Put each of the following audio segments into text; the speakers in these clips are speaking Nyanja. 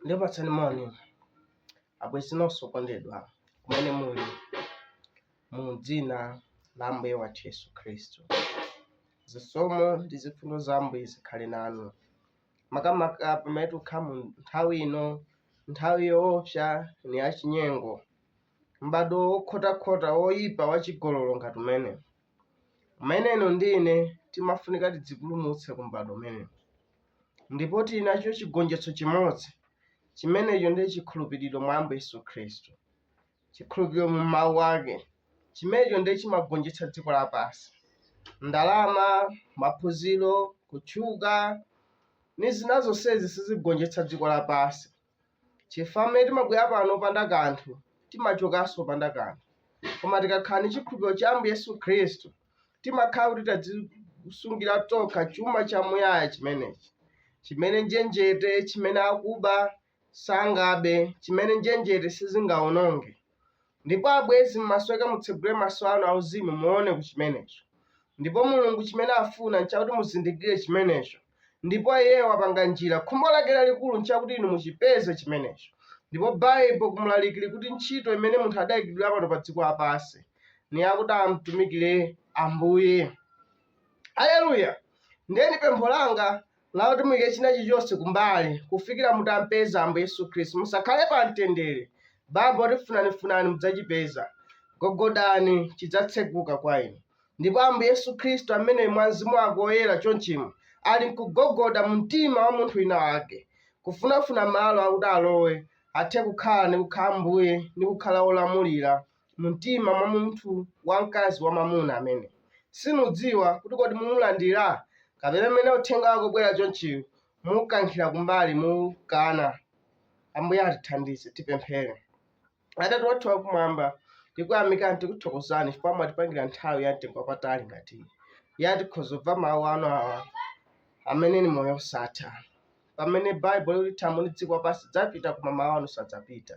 Ndikupatsani moni abwenzi nonse okondedwa kumene muli mu dzina la Ambuye wathu Yesu Khristu. Zisomo ndi zifundo za Ambuye zikhale nanu. makamaka pamene tikukhala mu nthawi ino nthawi yoopsa ni yachinyengo m'bado wokhotakhota woyipa wachigololo ngati umene umene inu ndi ine timafunika tidzipulumutse ku m'bado umene ndipo tili nacho chigonjetso chimodzi chimenecho ndi chikhulupiriro mwa ambuye yesu khristu chikhulupiriro mu Mawu Ake, chimenecho ndi chimagonjetsa dziko lapansi. Ndalama, maphunziro, kutchuka, ndi zina zonsezi sizigonjetsa dziko lapansi. Chifukwa mmene timabwera pano opanda kanthu, timachokanso opanda kanthu. Koma tikakhala ndi chikhulupiriro cha Ambuye Yesu Khristu, timakhala kuti tadzisungira tokha chuma chamuyaya chimenechi, chimene njenjete, chimene akuba, sangabe chimene njenjete sizingawononge. Ndipo, abwenzi, mumasowa mutsegule maso anu auzimu muwone ku chimenecho. Ndipo Mulungu chimene afuna nchakuti muzindikire chimenecho, ndipo Iye wapanga njira. Khumbo Lake lalikulu nchakuti inu muchipeze chimenecho. Ndipo Baibulo ku Mlaliki likuti ntchito imene munthu adaikidwira pano pa dziko lapansi ni yakuti amtumikire Ambuye. Aleluya! Ndiye ni pempho langa lakuti muyike china chilichonse kumbali kufikira mutampeza ambuye yesu khristu musakhale pa mtendere baibulo likuti funanifunani mudzachipeza gogodani chidzatseguka kwa inu ndipo ambuye yesu khristu amene mwa mzimu wake woyera chonchimo ali nkugogoda mu mtima wa munthu wina wake kufunafuna malo akuti alowe athe kukhala ndi kukhala ambuye ndi kukhala wolamulira mu mtima mwa munthu wamkazi wamwamuna amene sinudziwa kuti kodi mumulandira kapena mmene uthenga wake ubwera chonchiyo mukankhira kumbali mukana ambuye atithandize tipemphere atate wathu wakumwamba tikuyamikani tikuthokozani chifukwa mwatipangira nthawi ya mtengo wapatali ngati iyi yoti tikhoza kumva mawu anu awa amene ni moyo osatha pamene baibulo likuti thambo ndi dziko lapansi dzapita koma mawu anu sadzapita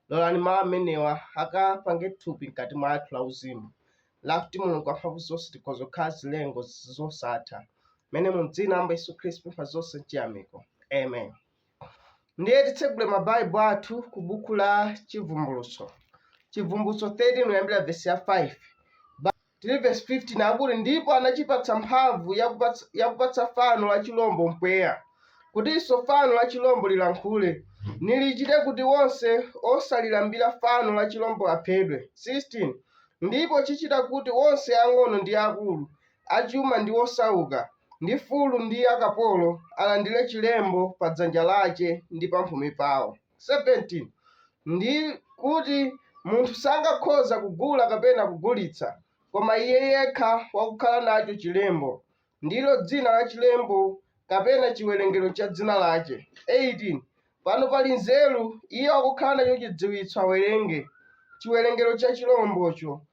lolani mawu amenewa akapange thupi mkati mwathu lauzimu lakuti mulungu wamphamvu zonse tikhoza kukhala zilengo zosatha mmene mu dzina la ambuye yesu khristu pempha zonse mchiyamiko amen ndiye titsegule mabaibulo athu ku buku la chivumbulutso chivumbulutso 13 kuyambira vesi ya 5 Tili verse 15 akuti ndipo anachipatsa mphamvu yakupatsa fano la chilombo mpweya kutinso fano la chilombo lilankhule nilichite kuti wonse osalilambira fano la chilombo aphedwe 16 ndipo chichita kuti wonse ang'ono ndi akulu achuma ndi osauka ndi fulu ndi akapolo alandire chilembo pa dzanja lace ndi pamphumi pawo 17 ndi kuti munthu sangakhoza kugula kapena kugulitsa, koma iye yekha wakukhala nacho chilembo, ndilo dzina la chilembo, kapena chiwerengero cha dzina lache. 18 pano pali nzeru, iye wakukhala nacho chidziwitso awerenge chiwerengero cha chilombocho,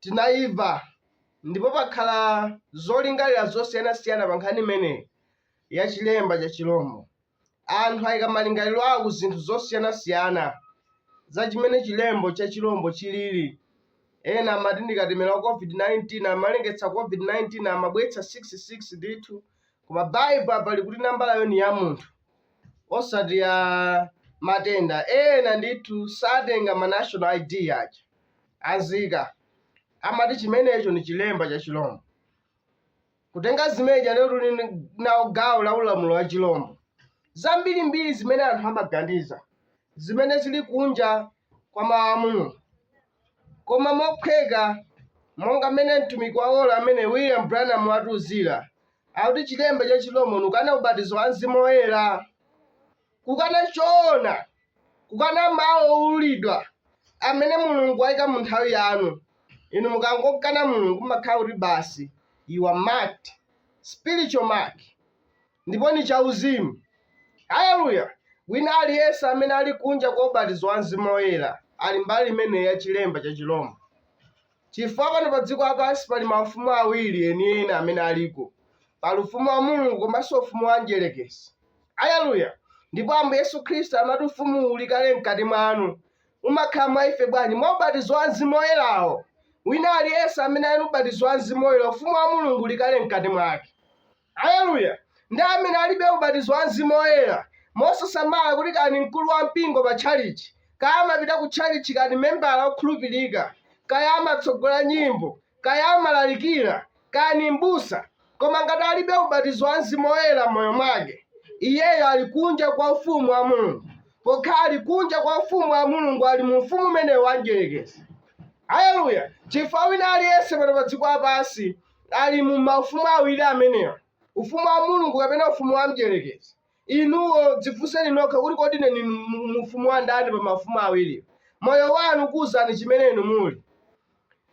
tinayimva ndipo pakhala zolingalira zosiyanasiyana pa nkhani imeneyi ya chilemba cha chilombo. Anthu ayika malingaliro awo ku zinthu zosiyanasiyana za chimene chilembo cha chilombo chilili. Ena amati ndi katemera wa COVID-19, amalengeza COVID-19, amabweretsa 666 ndithu, koma Baibulo apa likuti nambalayo ni ya munthu osati ya matenda. Ena ndithu satenga ma national ID aja. a nzika amati chimenecho ni chilemba cha chilombo. Kutenga zimeja lero tuli nawo gawo la ulamulo wa chilombo. Zambirimbiri zimene anthu amaganiza zimene zili kunja kwa mawu a Mulungu. Koma mophweka monga mmene mtumiki wa ola limene William Branham watiuzira, akuti chilemba cha chilombo ni kukana ubatizo wa Mzimu Woyera. kukana choona, kukana mawu owululidwa amene Mulungu waika mu nthawi yanu. Inu mukangokana Mulungu, mumakhala kuti basi you are marked, spiritual mark, ndipo ni chauzimu. Haleluya! Wina aliyense amene ali kunja kwa ubatizo wa Mzimu Woyera ali mbali imeneyi ya chilemba cha chirombo. Chifukwa pano pa dziko lapansi pali maufumu awiri enieni amene aliko. Pali ufumu wa Mulungu komanso ufumu wa Mdyerekezi. Aleluya! Ndipo Ambuye Yesu Khristu amati ufumuwu uli kale mkati mwanu. Umakhala mwa ife bwanji? Mwa ubatizo wa Mzimu Woyerawo. Wina aliyense amene ali ndi ubatizo wa Mzimu Woyera, ufumu wa Mulungu uli kale mkati mwake. Aleluya! Ndi amene alibe ubatizo wa Mzimu Woyera, mosasamala kuti kaya ni mkulu wa mpingo pa tchalichi, kaya amapita ku tchalichi, kaya ni membala wokhulupilika, kaya amatsogola nyimbo, kaya amalalikira, kaya ni m'busa. Koma ngati alibe ubatizo wa Mzimu Woyera m'moyo mwake, iyeyo ali kunja kwa ufumu wa Mulungu. Pokhala ali kunja kwa ufumu wa Mulungu, ali mu ufumu umenewu wa Mdyelekezi. Aleluya! Chifukwa wina aliyense pano pa dziko lapansi ali mu maufumu awiri amenewa ufumu wa mulungu kapena ufumu wa mdyerekezi inuyo dzifunseni nokha kuti kodi ine ndili mu- mu ufumu wa ndani pa mafumu awiriwo moyo wanu ukuwuzani chimene inu muli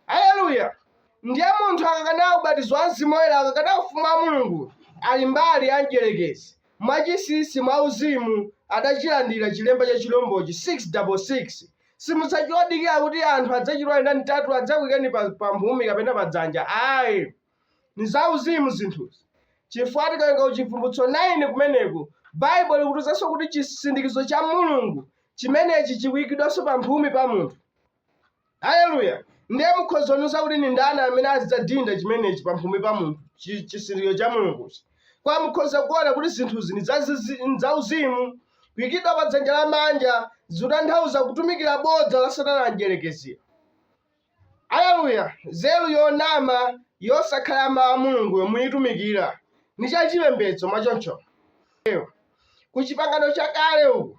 haleluya ndiye munthu akakana ubatizo wa mzimu woyera akakana ufumu wa mulungu ali mbali ya mdyerekezi mwachinsinsi mwa uzimu adachilandira chilemba cha chilombochi 666 simudzachita kudikira kuti anthu adzachita manambala atatu adzakuikani pa, pa mphumi kapena pa dzanja ayi ni zauzimu zinthuzi chifukwa tikawerenga ku chivumbulutso 9 kumeneko baibulo likutiuzanso kuti chisindikizo cha mulungu chimenechi chikuikidwanso pa mphumi pa munthu haleluya ndiye mukhoza kundiuza kuti ni ndani amene azidzadinda chimenechi pa mphumi pa munthu chi- chisindikizo cha mulunguchi kwa mukhoza kuona kuti zinthuzi ni zazizi- ni zauzimu kuikidwa pa dzanja lamanja zikutanthauza kutumikira bodza la satana mdyerekezi aleluya nzeru yonama yosakhala mawu a mulungu yomaitumikira ni cha chipembedzo mwachoncho ku chipangano chakale uku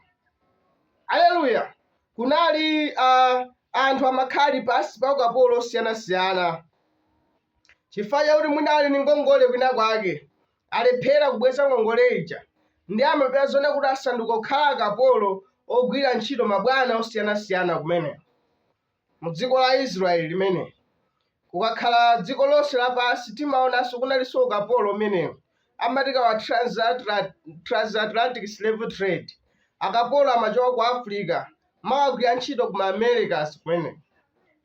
aleluya kunali uh, anthu amakhala pansi pa ukapolo osiyanasiyana chifukwa chakuti mwina ali ndi ngongole kwina kwake alephera kubweza ngongole ija nde amapeza zona kuti asanduka kukhala akapolo ogwira ntchito kwa mabwana osiyanasiyana kumene mu dziko la israeli limene kungakhale dziko lonse lapansi timaonanso kunalinso ukapolo umene umati kaya wa transatla- transatlantic slave trade akapolo amachoka ku africa kumakagwira ntchito ku Americas kumene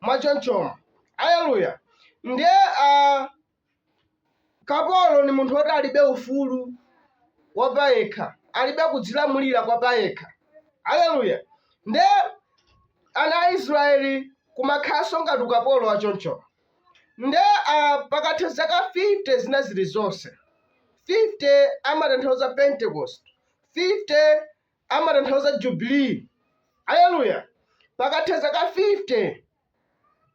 mwachonchomo aleluya ndiye a kapolo ni munthu woti alibe ufulu wa payekha alibe kudzilamulira kwa payekha aleluya nde ana a israeli kumakhalanso ngati ukapolo wa chonchowo nde a pakatha zaka 50 zina zili zonse 50 amatanthauza pentecost 50 amatanthauza jubilee aleluya pakatha zaka 50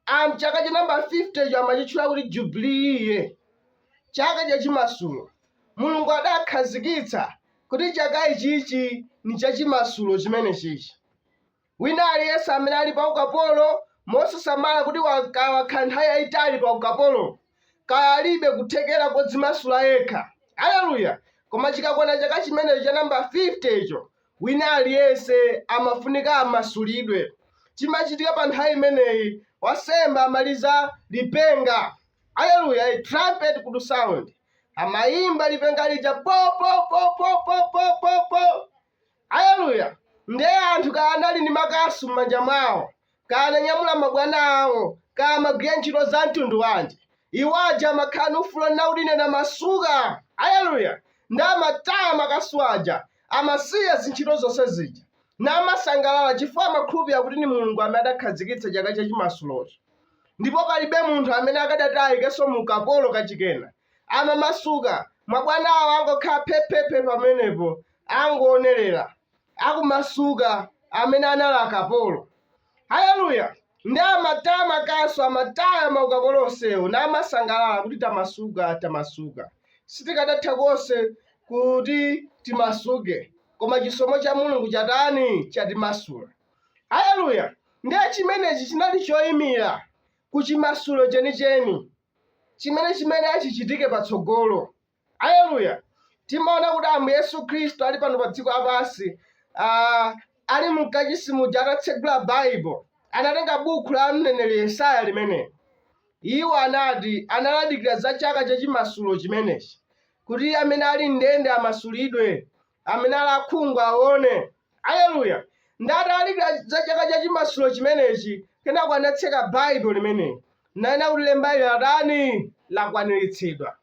anthu chaka cha namba 50 cho amachitchula kuti jubilee iye chaka cha chimasulo mulungu adakhazikitsa kuti chaka ichichi ni cha chimasulo chimene chichi Wina aliyense amene ali paukapolo, mosasamala kuti wakhala nthawi yaitali paukapolo, kaya alibe kuthekera kodzimasula yekha, aleluya, koma chikakwana chaka chimenecho cha namba 50 icho, wina aliyense amafunika amasulidwe. Chimachitika pa nthawi imeneyi, wansembe amaliza lipenga, aleluya, a trumpet could sound, amayimba lipenga lija, po po po po po po po po, Aleluya! Nde anthu kaya anali ndi makasu mmanja mwawo, kaya ananyamula mabwana awo, kaya amagwira ntchito za mtundu wanji, iwo aja amakhala ndi ufulu onena kuti ine ndamasuka! Aleluya! Nde amataya makasu aja, amasiya zintchito zonse zija, namasangalala chifukwa amakhulupirira kuti ndi Mulungu amene adakhazikitsa chaka cha chimasulochi, ndipo palibe munthu amene akadati ayikenso mu ukapolo kachikenanso. amamasuka mabwanawo angokhala phephephe pamenepo angoonerera akumasuka amene anali akapolo haleluya ndi amataya makasu amataya maukapolo onsewo namasangalala kuti tamasuka tamasuka sitikadatha konse kuti timasuke koma chisomo cha mulungu chatani chatimasula haleluya ndiye chimenechi chinali choyimira ku chimasulo chenicheni chimene chimati chichitike patsogolo aleluya timaona kuti ambuye yesu khristu ali pano pa dziko lapansi ah, ali mkachisi muja atatsegula baibulo anatenga buku la mneneri yesaya limeneli iwo anati analadikira za chaka chachimasulo chimenechi kuti amene ali mndende amasulidwe amene ali akhungu aone aleluya ndalalikira za chaka cha chimasulo chimenechi kenako anatseka baibulo limeneli nanena kuti lembali latani lakwaniritsidwa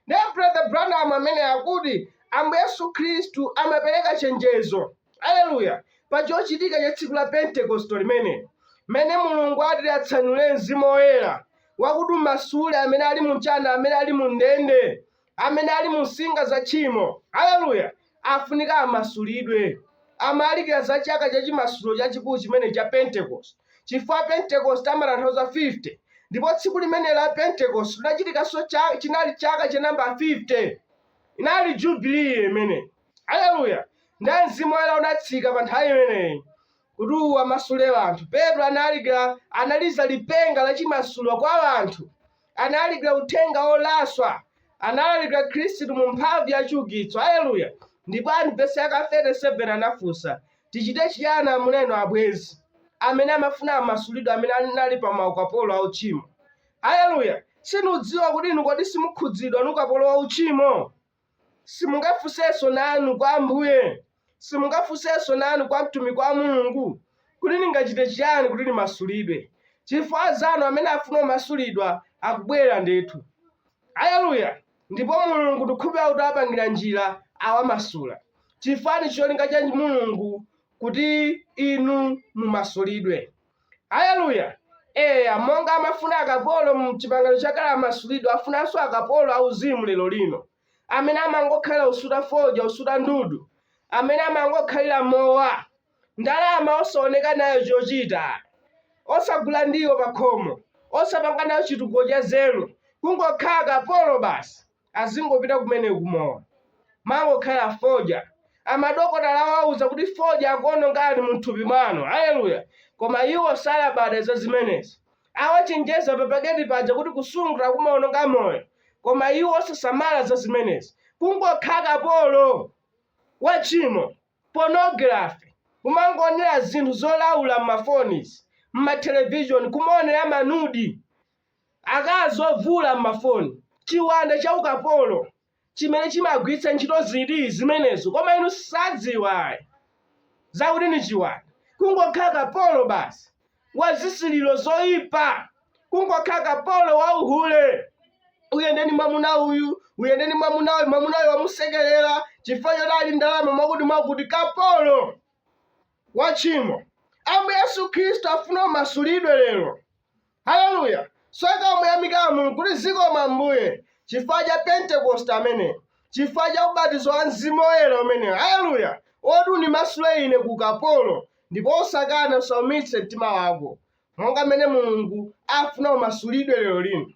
ndiye brother branham ameneyu akuti ambuye yesu khristu amapereka chenjezo aleluya pa chochitika cha tsiku la pentekosto limeneli mmene mulungu ati atsanule mzimu woyera wakuti umasule amene ali mumsinga amene ali mu ndende amene ali mu nsinga za tchimo, aleluya, afunika amasulidwe. Amalalikira za chaka cha chimasulo chachikulu chimene cha Pentecost, chifukwa Pentecost amatanthauza 50 ndipo tsiku limeneli la Pentecost linachitikanso cha- chinali chaka cha namba 50 inali jubilee imeneyi aleluya ndiye mzimu woyera unatsika pa nthawi imeneyi Kuti uwamasule anthu. Petro analalikira, analiza lipenga la chimasulo kwa anthu. Analalikira uthenga wolaswa. Analalikira Khristu mu mphamvu ya chiukitso. Aleluya! Ndipo anthu vesi yaka 37 anafunsa, tichite chiyani amuna inu abwenzi? Amene amafuna amasulidwe amene anali pa maukapolo a uchimo. Aleluya! Sindidziwa kuti inu kodi simukhudzidwa ni ukapolo wa uchimo? Simungafunsenso nanu kwa Ambuye? Simungafunsenso nanu kwa mtumiki wa Mulungu, kuti ndingachite chiyani kuti ndimasulidwe? Chifukwa anzanu amene akufuna kumasulidwa akubwera ndithu. Aleluya! Ndipo Mulungu ndikukhulupirira kuti awapangira njira, awamasula. Chifukwa ndi cholinga cha Mulungu kuti inu mumasulidwe. Haleluya. Eya, monga amafuna akapolo mu chipangano chakale amasulidwa, afunanso akapolo auzimu lero lino, amene amangokhalira usuta fodya, usuta ndudu, amene amangokhalira mowa, ndalama osaoneka nayo chochita, osagula ndiwo pakhomo, osapanga nayo chitukuko cha nzeru, kungokhala kapolo basi. azingopita kumene kumowa mangokhala fodya amadokotala awauza kuti fodya akuonongani m'thupi mwanu haleluya koma iwo osalabada za zimenezi awachenjeza papaketi paja kuti kusuta kumaononga moyo koma iwo osasamala za zimenezi kungokhala kapolo wa tchimo pornography kumangoonera zinthu zolaula m'mafonizi m'matelevishoni kumaonera manudi Akazi ovula m'mafoni. Chiwanda cha ukapolo chimene chimagwiritsa ntchito zida zimenezo koma inu sadziwa ayi zakuti ndi chiwanda. Kungokhala kapolo basi wa zisiliro zoipa. Kungokhala kapolo wa uhule. Uyende ndi mwamuna uyu, uyende ndi mwamuna uyu, mwamuna uyu wamusekerera chifukwa choti ali ndalama mwakuti mwakuti. Kapolo wa tchimo. Ambuye Yesu Khristu afuna umasulidwe lero. Haleluya! Usoweka uyamike Mulungu kuti zikomo Ambuye chifukwa cha Pentecost ameneyu, chifukwa cha ubatizo wa Mzimu Woyera umene, haleluya, oti undimasule ine ku ukapolo ndipo usakane usaumitse mtima wako, monga mmene Mulungu afuna umasulidwe lero lino.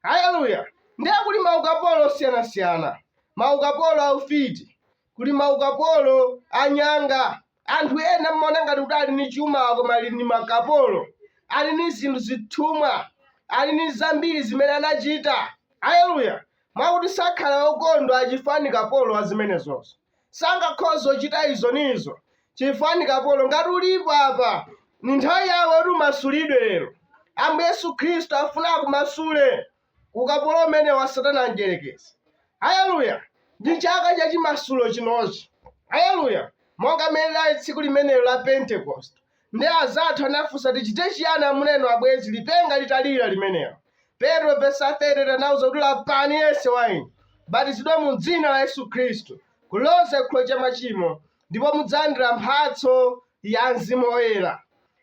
Haleluya! Ndiye kuli maukapolo osiyanasiyana, maukapolo a ufiti, kuli maukapolo anyanga anthu ena mmaona ngati kuti ali ni chuma koma ali ni makapolo ali ni zinthu zithumwa ali ni zambiri zimene anachita aleluya mwakuti sakhala okondwa chifukwa ni kapolo wa zimenezozo sangakhoze kuchita izo ni izo chifukwa ni kapolo ngati ulipo apa ni nthawi yako kuti umasulidwe lero ambuye yesu khristu afuna akumasule ku ukapolo umene wa satana mdierekezi haleluya ndi chaka cha chimasulo chinochi haleluya monga mmene linali tsiku limenelo la pentekoste ndiye anzathu anafunsa tichite chiyani amuna inu abwenzi lipenga litalira limenelo petro vesa 38 anawauza kuti lapani yense wa inu batizidwani mu dzina la yesu khristu kuloza chikhululukiro cha machimo ndipo mudzalandira mphatso ya mzimu woyera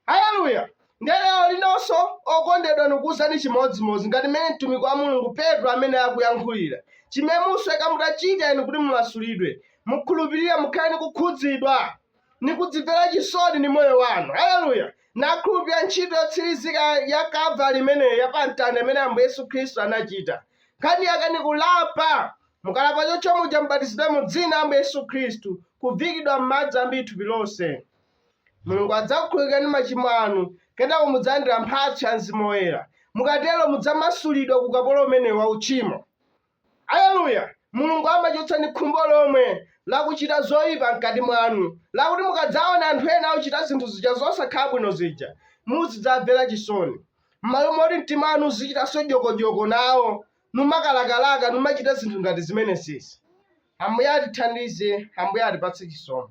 haleluya ndiye lero linonso okondedwa ndikuwuzani chimodzimodzi ngati mmene mtumiki wa mulungu petro anayankhulira chimene musoweka mutachita inu kuti mumasulidwe mukhulupirire mukhale ndi kukhudzidwa ndi kudzimvera chisoni ndi moyo wanu haleluya nakhulupirira ntchito yotsirizika ya kalvari imeneyi ya pamtanda imene ambuye yesu khristu anachita nkhani yake ni kulapa Mukalapa chotcho muja mubatizidwe mu dzina la Ambuye Yesu Khristu, kuviikidwa m'madzi ambiri thupi lonse. Mulungu adzakukhululukirani machimo anu, kenako mudzalandira mphatso ya Mzimu Woyera. Mukatero mudzamasulidwa ku ukapolo umenewu wa uchimo. Aleluya! Mulungu amachotsa ndi khumbo lomwe la kuchita zoipa mkati mwanu, lakuti mukadzaona anthu ena akuchita zinthu zija zosakhala bwino zija, muzidzamvera chisoni. M'malo moti mtima wanu uzichitanso dyokodyoko nawo, numakalakalaka numachita zinthu ngati zimenezezi ambuye atithandize ambuye atipatse chisomo